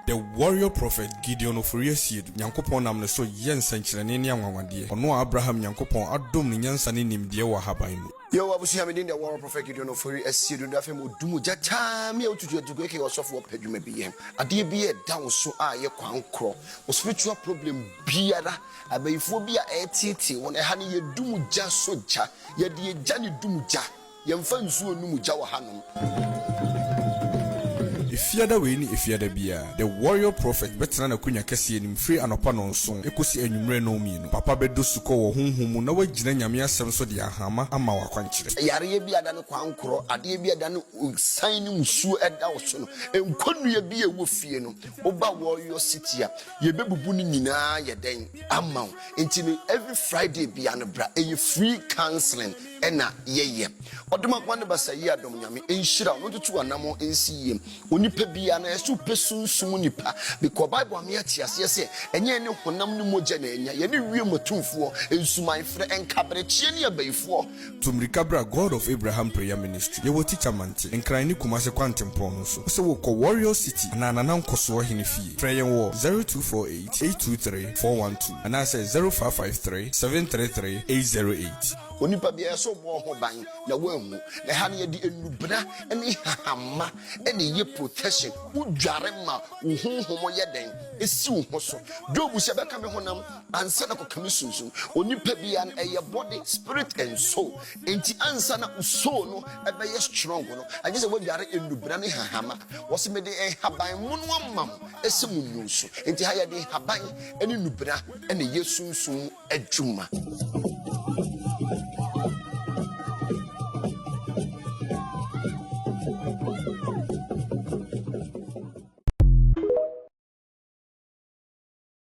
The Warrior Prophet Gideon Ofori Asiedu Nyankopɔn nam ne so yɛ nsɛnkyerɛnne ne anwanwadeɛ, ɔno a Abraham Nyankopɔn adom no nyansa ne nimdeɛ wɔ ahaban mu. Yehowa abusua me din The Warrior Prophet Gideon Ofori Asiedu na afei mewɔ du mu gyata me a wotutu adugu aka yɛ ɔsɔfo wɔ pɛ dwuma bi yɛ ho adeɛ bi a ɛda wo so a yɛ kwan korɔ wo spiritual problem biara abayifoɔ bi a ɛreteetee wɔn ɛha no yɛ du mu gya so gya Yɛde egya na edum gya. Yɛmfa nsuo nnum gya wɔ hanom. Efiada wei ne Efiada biara, The Warrior Prophet bɛtena n'akonwa kɛseɛ anim firi anɔpa nnɔnson kɔsi anwummerɛ nnɔnmienu. Papa bɛdɔ sukɔ wɔ honhom mu na wagyina Nyame Asɛm so de ahama ama wo akwankyerɛ. Sɛ yareɛ bi a ɛda no kwankorɔ, adeɛ bi a ɛda no osian ne musuo da wo so no, nkɔnnua bi a ɛwɔ fie no, woba Warrior City a, Yɛbɛbubu no nyinaa yɛ dɛn ama wo nti no every Friday bia no bra ɛyɛ free counseling ɛna yɛyɛ ɔdom akoma ne basa yie adom nyame nhyira no ntutu anamɔ nsi yie onipa bia na ɛsɛ wopɛ sunsum nipa because bible ame ate aseɛ sɛ ɛnyɛ ne honam ne mogya na ɛnya yɛne wie matumfoɔ nsuman frɛ nkaberekyeɛ ne abayifoɔ Tu mmirika bra God of Abraham prayer ministry yɛwɔ teacher mante nkran ne kumase kwantempɔn no so wosɛ wokɔ warrior city anaa nana nkɔsoɔ hene fie frɛ yɛn wɔ zero two four eight eight two three four one two anaasɛ zero five five three seven three three eight zero eight. Onipa biara sɛ ɔbɔ ho ban na wanwu. Na ɛha no yɛde nnubena ne nhahamma na ɛyɛ protection. Wodware ma wo honhom yɛ dɛn? Esi wo ho so. Job se, Ɛbɛka me honam ansa na kɔka me sunsun onipa bia no ɛyɛ body spirit and soul nti ansa na soul no ɛbɛyɛ strong no agye sɛ wadware nnubra ne hahama wɔsi mede nhaban mono ama mo ɛsɛ mo nnu so nti ha yɛde nhaban ne nnubra ɛna yɛ sunsun mu adwuma.